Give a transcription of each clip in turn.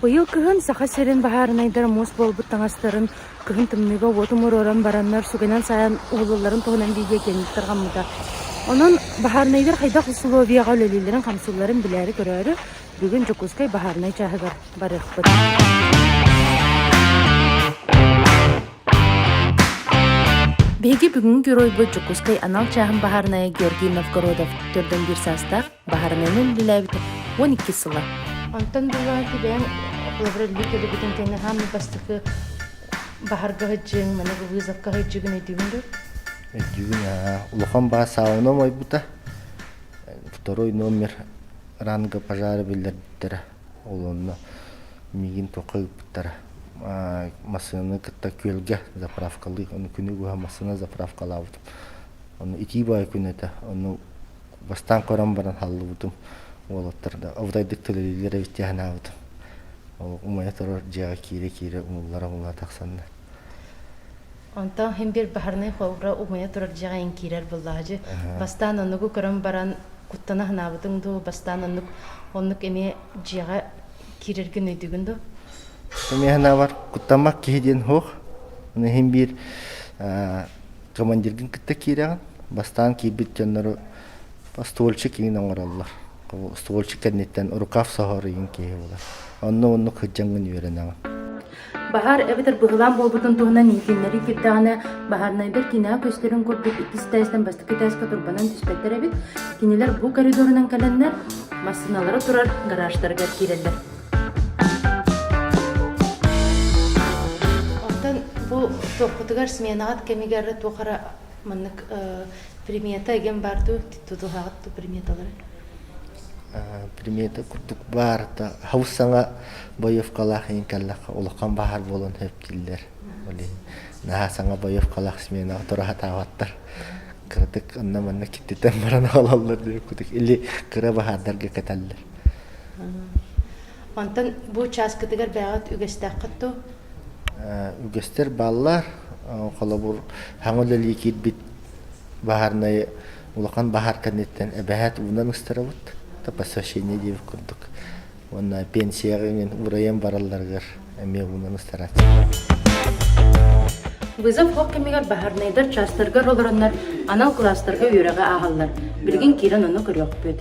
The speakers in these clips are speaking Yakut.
Быйыл кыһын Саха сирин баһаарынайдар муус буолбут таҥастарын кыһын тымныыга уот умуруоран бараннар сүгэнэн сайан уһулулларын туһунан видеокиэҥник тарҕаммыта. Онон баһаарынайдар хайдах усулуобуйаҕа үлэлииллэрин-хамсыылларын билээри-көрөөрү Бүгүн Дьокуускай баһаарынай чааһыгар барыахпыт. Биһиги бүгүҥҥү геройбут Дьокуускай анал чааһын баһаарынайа Георгий Новгородов төрдөн биир саастаах баһаарынайынан үлэлээбитэ уон иккис сыла. Онтон дылы түбээн лаборолителебитин кэннэ хааммыт бастакы баһарга сыдьыыҥ, маны вызовка сыдьыыгын өйдүүгүн дур? Өйдүүгүн улахан баас сааланы ойбута. Второй номер ранга пожары биллэрбиттэрэ олонно миигин туохха ыыппыттара массыынаны кытта күөлгэ заправкалыы ону күнү быһа массыына заправкалаабытым ону итии баай күн этэ ону бастаан көрөн баран хааллыбытым уолаттар да абытайдык төлөлүүллэрэ истиэхэнаабытым ол умайа турар дьиэҕэ киирэ киирэ умуллара умула тахсанна Онтон һин-бир баһарынай холбура угуйа турар дьиэҕэ иҥкиирэр быллаһадьы бастаан оннугу көрөн баран куттана һынаабытыҥ дуу, бастаан оннук оннук эмиэ дьиэҕэ киирэргин өйдүгүн дуу? Эмиэ һынаабар куттаммат киһи диэн һуох. Аны һин-бир командиргын кытта киирэҕин, бастаан киирбит дьоннору ствольчик иҥин оҥороллор. Ствольчик кэнниттэн рукав соһор иҥин киһи буолар. Онно-оннук сылдьаҥҥын үөрэнэҕин. Баһаар эбэтэр быһылаан буолбутун туһунан иһитиннэрии киирдэҕинэ, баһаарынайдар кинигэ көстөрүн курдук иккис этээстэн бастакы этээскэ турбанан түспэттэр эбит. Кинилэр бу коридорунан кэлэннэр, массыыналара турар гаражтарыгар киирэллэр. Оттон бу туоххутугар сменаҕыт кэмигэр туох эрэ маннык примета эген бар дуу тутуһаҕыт ту приметалары? примета курдук баарта хабыс саҥа боевкалаах иһин кэллэххэ улахан баһаар буолан сөптүүллэр ол иһин наһаа саҥа боевкалаах сменаҕа тура сатаабаттар кыратык онно-манна киттитэн баран хаалаллар диир кутук или кыра баһаардарга кэтэллэр онтон бу учааскытыгар бэҕэт үгэстээххит ту үгэстэр бааллар холобур хаҥа үлэлии киирбит баһаарнайы улахан баһаар кэнниттэн эбэһээт уунан ыстарабыт то посвящение диир курдук уонна пенсияҕа иҥин урайан баралларыгар эмиэ уунан ыстарааччылар. Вызов ол кэмигэр баһарнайдар чаастаргар олороннор анал кылаастарга үөрэҕи ааһаллар. Билигин киирэн ону көрүөхпүт.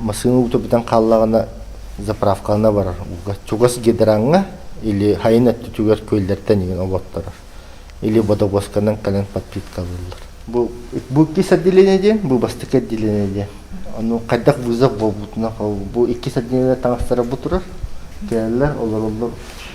Массыына уута бүтэн хааллаҕына заправкалана барар. Чугас гидраҥҥа или хайын өттүтүгэр күөллэр тэнийэн оботторор. Или бодобуосканан кэлэн подпиткалыыллар. Бу бу иккис отделение диэн, бу бастакы отделение диэн. Ону хайдах вызов буолбутунан бу иккис отделение таҥастара бу турар. Кэлэллэр, олороллор.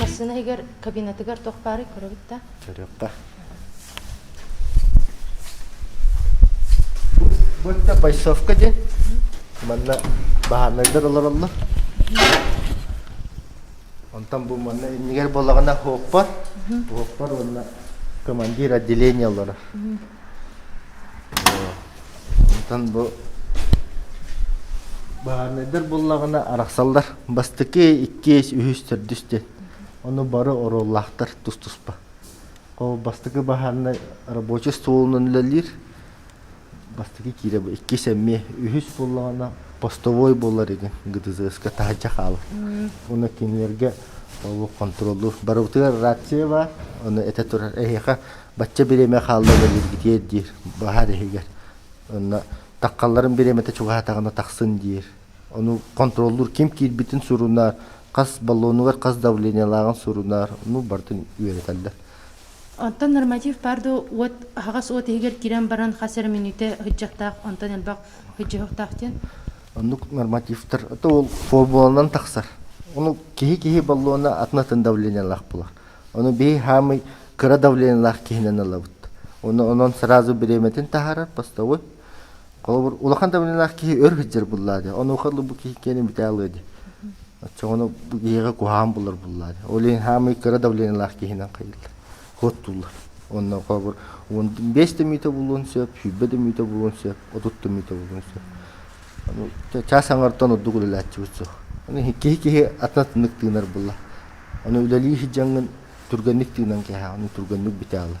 Массыына иһигэр кабинетыгар туох баарый көрөбүт да? Көрүөх да. Bu da Байсовка диэн. Манна баһааннайдар олороллор. Онтон бу манна иннигэр буолаҕына ХОППА, ХОППА уонна командир отделение олорор. Онтон бу баһаарынайдар буллаҕына арахсаллар бастакы, иккиэс, үһүс, төрдүс диэн. Ону бары оруоллаахтар тус-туспа. Бастакы баһаарынай рабочий столунан үлэлиир. бастакы киирэ бу иккис эмиэ үһүс буоллаҕына постовой буолар игин ГДЗС-ка таһырдьа хаалар уна кинилэргэ ол контроллуур барыбытыгар рация баар ону этэ турар эһиэхэ бачча бириэмэ хаалла бэлиргитиэр диир баһар иһигэр онно таккалларын бириэмэтэ чугаһатаҕына тахсын диир ону контроллуур ким киирбитин сурунар хас баллонугар хас давлениелааҕын сурунар ну бартын үөрэтэллэр Онтон норматив баар да уот аһаҕас уот иһигэр киирэн баран хас эрэ мүнүүтэ ыһыдьахтаах, онтон элбэх ыһыдьыһыахтаах диэн. Оннук нормативтар то ол формуланан тахсар. Ону киһи-киһи баллона атын-атын давлениелаах булар. Ону бии хаамый кыра давлениелаах киһинэн ылабыт. Ону онон сразу беременетин таһаарар постовой Холобур, улахан табынылаах киһи өр сылдьар буллаа дии. Онуоха бу киһи киэнин бүтэ алыа дии. Оччо ону бу киһиэхэ куһаҕан булар буллаа дии. Ол иһин хаамыы кыра давлениялаах киһинэн хайыллар. Куоттууллар. Онно холобур он биэс да мүөтэ булуон сөп, сүүрбэ да мүөтэ булуон сөп, отут да мүөтэ булуон сөп. Аны чаас аҥартан ордук үлэлээччибит суох. Аны киһи киһи атына тыннык тыынар булла. Аны үлэлии сыдьаҥын түргэнник тыынан кэһэ, аны түргэнник бүтэ алар.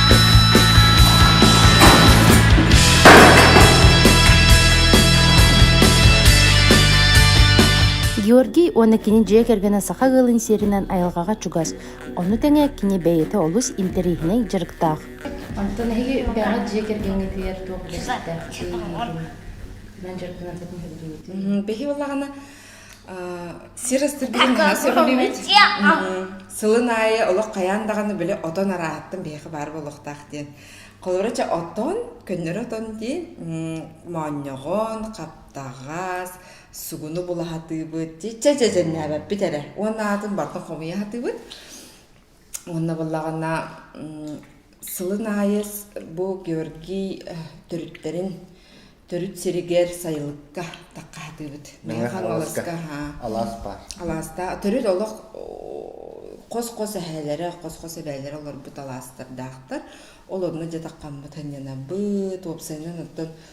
Георгий уонна кини дьиэ кэргэнэ саха ыалын сиэринэн айылҕаҕа чугас. Ону тэҥэ кини бэйэтэ олус интэриэһинэй дьарыктаах. Онтон эһиги үпкэҕит дьиэ кэргэҥҥитигэр туох үлэстээх? Биһиги балаҕана сир астыргытын наһаа сөбүлүүбүт сылын аайы олох хайаан даҕаны били отон арааһаттан биһиэхэ баар буолуохтаах диэн холоро ча отон көннөрү отон диэн моонньоҕон хаптаҕас сугуну булаһатыыбыт чиччэ дьэдьэннээбэппит эрэ уонна аатын барта хомуйа сатыыбыт Уонна буллаҕына сылын аайы бу Георгий төрүттэрин төрүт сиригэр сайылыкка таххаһатыыбыт. Мэҥэ Хаҥаласка алаас баар. Алаастаа төрүт олох хос-хос эһээлэрэ, хос-хос эбээлэрэ олорбут алаастардаахтар. Ол онно дьатаххаммыт анньанабыт, уопсайынан оттон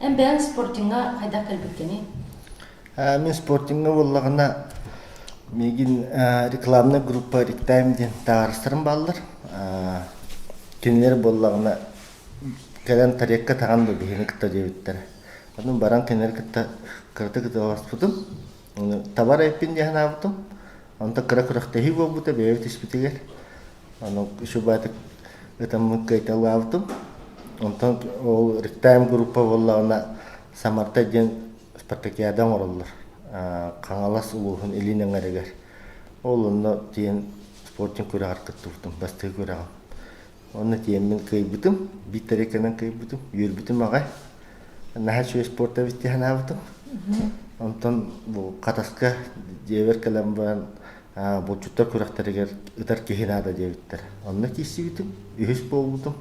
Эн бэйэҥ спортиҥҥа хайдах кэлбиккиний? Мин спортиҥҥа буоллаҕына миигин рекламнай группа «Риктайм» диэн таҥарастарым бааллар. Кинилэр буоллаҕына кэлэн тарекка таҕан да биһиги кытта диэбиттэрэ. Ону баран кинилэри кытта кыратык ыталаспытым. Табар эппин диэн санаабытым. Онто кыра күрэхтэһии буолбута бэйэбит испитигэр. Аны шубатык ытаммыт кыайталаабытым. Онтон ол ректайм группа буоллаҕына Самарта диэн спартакиада оҥороллор Хаҥалас улууһун Илин Эҥэригэр. Ол онно тиийэн спортивнай күрэҕэр кыттыбытым, бастакы күрэҕим. Онно тиийэммин кыайбытым, биитэрикэнэн кыайбытым, үөрбүтүм аҕай. Наһаа үчүгэй спорт эбит дии санаабытым. Онтон бу Хатаска дьиэбэр кэлэн баран Булчуттар күрэхтэригэр ытар киһи наада диэбиттэр. Онно киирсибитим, үһүс буолбутум.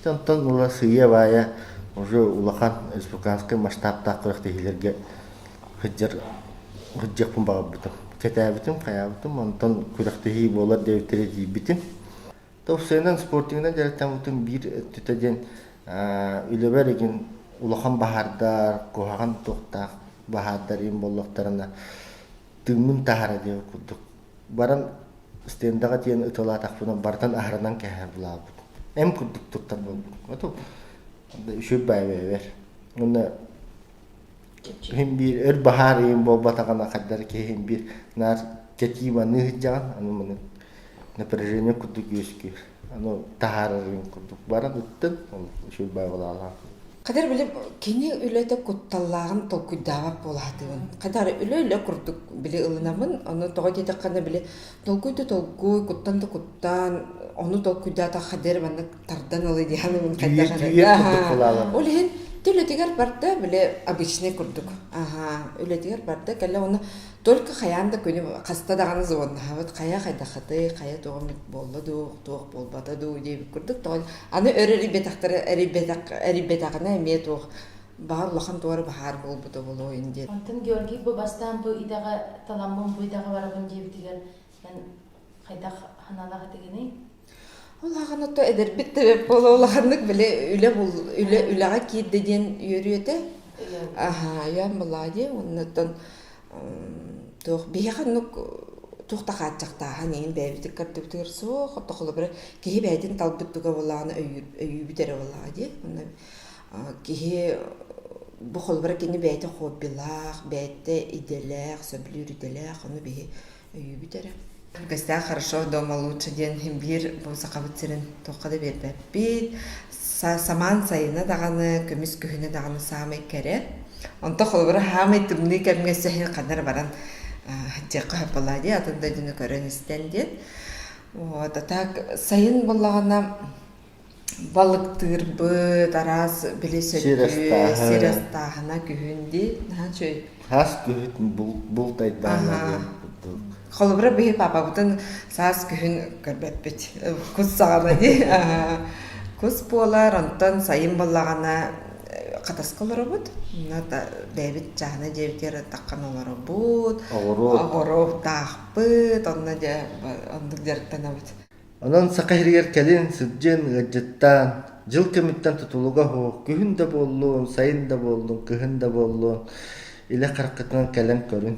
Онтон ыла сыыйа-баайа уже улахан республиканскай масштабтаах күрэхтэһиилэргэ сылдьар сылдьыахпын баҕарбытым. Кэтээбитим, хайаабытым, онтон күрэхтэһии буолар диэбиттэри тиийбитим. Тупсайынан спортивнай дьарыктаммытым биир өттүтэ диэн үлэбэр игин улахан баһаардар, куһаҕан туохтаах баһаардар ин буоллахтарына тыыммын таһара диэн курдук баран стендаҕа тиийэн ыталаатахпына барытын аһарынан кэһэ булаабыт эн курдук туттар буолбут үчүгэй баайбэбэр уонна иһин биир өр баһаар иһин буолбатаҕына хайдары киһи иһин биир наар кэтии маныы сылдьаҕын аны маны напряжение курдук үөскүүр аны таһаарарын курдук баран ыттын ол үчүгэй баабылаалаах Кадыр били кини үлэтэ кутталлааҕын толкуйдаабат буолаатыгын. Хадары үлэ-үлэ курдук били ылынамын, оны тоҕо диэтэххэ били толкуй да толкуй, куттан да куттан, ону толкуйдаата Хадыр манна тардан ылы диһан мин хайдах Ол иһин Ты үлэтигэр барда, били обычный курдук. Аха, үлэтигэр барда, кэлле оны Только хайаан да күнү хаста даҕаны звоннаһабыт, хайа хайдаххытый, хайа туох эмит буолла дуу, туох буолбата дуу диэбит курдук тоҕо аны өр эрийбэтэхтэрэ эрийбэтэх эрийбэтэҕинэ эмиэ туох баҕар улахан туора баһаар буолбута буолуойун диэн. Онтон Георгий бу бастаан бу идэҕэ таламмын бу идэҕэ барабын диэбитигэр эн хайдах аналаах этигиний? Ол ахан ото эдэрбит да бэрт буола улаханнык били үлэ бул үлэ үлэҕэ киирдэ диэн үөрүү этэ. Аһаа, ойоон булаа дии оннуттан туох биһиэхэ оннук туох да хааччахтааһын иһин бэйэбитин көрдүбүтүгэр суох ото холобура киһи бэйэтин талбыт дуга буолаҕына өйүүр өйүүбүт эрэ буолаҕа дии онно киһи бу холобура кини бэйэтэ хоббилаах бэйэтэ идэлээх сөбүлүүр идэлээх ону биһи өйүүбүт эрэ кэстээх хорошо дома лучше диэн биир бу сахабыт сирин туохха да биэрбэппит самаан сайыны даҕаны көмүс күһүнү даҕаны саамай кэрэ онто холобура саамай тымныы кэмҥэ сэһин ханар баран сдьиэххэ хаппалаа дии атын дойдуну көрөн истэн диэн вот а так сайын буоллаҕына Балыктыырбыт, араас били Сир сөттүө, ыстааһы. сир астааһына күһүн дии, наһаа үчүгэй. Хас күһүт бул- бултайдаана Аһаа. диэн курдук. Холобура, биһи папабытын саас күһүн көрбөппүт. Кус саҕана дии. Аһаа. Кус буолар, онтон сайын балаҕана э, хатаска олоробут. Мына да бэйэбит чаана дьиэбитигэр аттаххан олоробут. Оҕуруот. Оҕуруоттаахпыт, онно дьэ оннук дьарыктанабыт. Онон саха сиригэр кэлин сылдьыан, ыалдьыттаан, дьыл кэмиттэн тутулуга оһуох, күһүн да буоллун, сайын да буоллун, кыһын да буоллун, илэ хараххытынан кэлэн көрүн.